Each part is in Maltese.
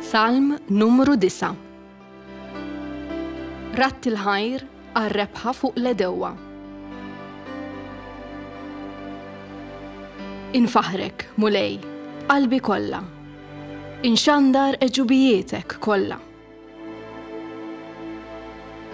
Salm numru 9 Ratt il-ħajr għar-rebħa fuq l-edewwa. Infaħrek, mulej, qalbi kollha. Inxandar eġubijietek kollha.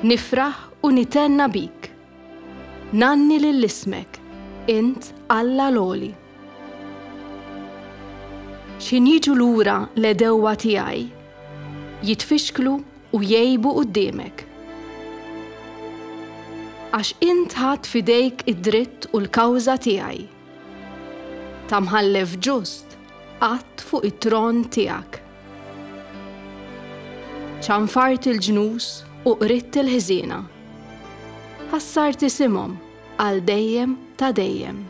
Nifraħ u nitenna bik. Nanni lill-ismek, int Alla l-oli. X'ħin jiġu lura l-għedewwa tiegħi, jitfixklu u jgħibu quddiemek. Għax int ħadt f'idejk id-dritt u l-kawża tiegħi. Ta' mħallef ġust qgħadt fuq it-tron tiegħek. Ċanfart il-ġnus u qridt il-ħżiena. Ħassart isimhom għal dejjem ta' dejjem.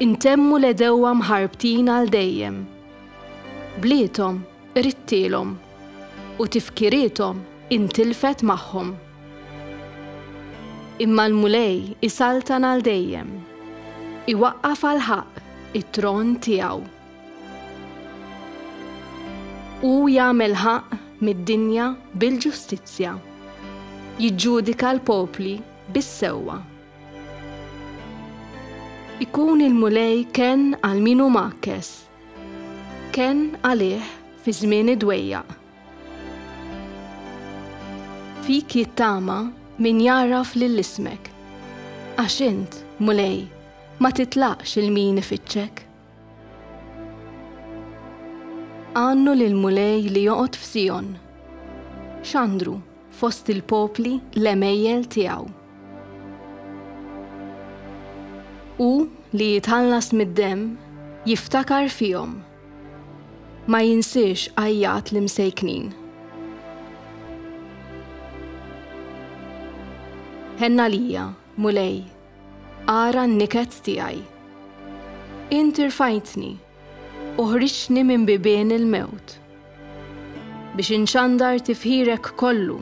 Intemmu l-għedewwa mħarbtin għal dejjem. Bliethom ridtilhom u tifkiriethom intilfet magħhom. Imma l-Mulej isaltan għal dejjem, iwaqqaf għall-ħaqq it-tron tiegħu. Hu jagħmel ħaqq mid-dinja bil-ġustizzja, jiġġudika l-popli bis-sewwa. Ikun il-Mulej kenn għal min hu mgħakkes, kenn għalih fi żmien id-dwejjaq. Fik jittama min jagħraf lil ismek, għax int, Mulej, ma titlaqx 'il min ifittxek. Għannu lill-Mulej li joqgħod f'Sijon. Xandru fost il-popli l-għemejjel tiegħu. Hu li jitħallas mid-demm jiftakar fihom. Ma jinsiex għajjat l-imsejknin. Ħenna lija, Mulej, Ara n-niket tiegħi. Int irfajtni u ħriġtni minn bibien il-mewt biex inxandar tifħirek kollu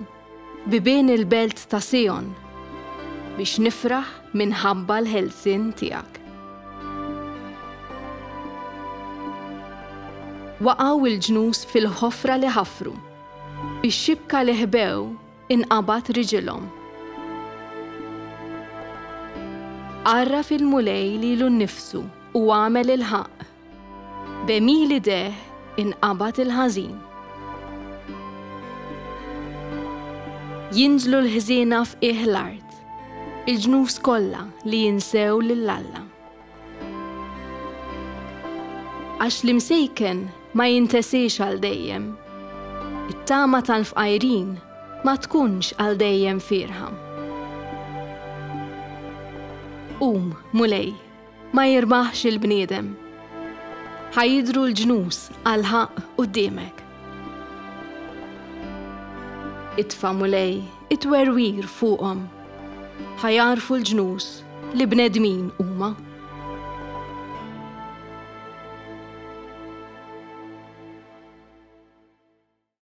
f'bibien il-belt ta' Sijon biex nifraħ minħabba l-ħelsien tiegħek. Waqgħu l-ġnus fil-ħofra li ħafru, bix-xibka li ħbew Inqabad riġilhom. Għarraf il-Mulej lilu nnifsu u għamel il-ħaqq. B'għemil idejh inqabad il-ħażin. Jinżlu l-ħżiena f'qiegħ l-art, il-ġnus kollha li jinsew lil Alla. Għax l-imsejken ma jintesiex għal dejjem. It-tama tal-fqajrin ma tkunx għal dejjem fierħa. Qum, Mulej, ma jirbaħx il-bniedem. Ħa jidhru l-ġnus għal ħaqq quddiemek. Itfa' Mulej It-twerwir fuqhom ħa jagħrfu l-ġnus li bnedmin huma.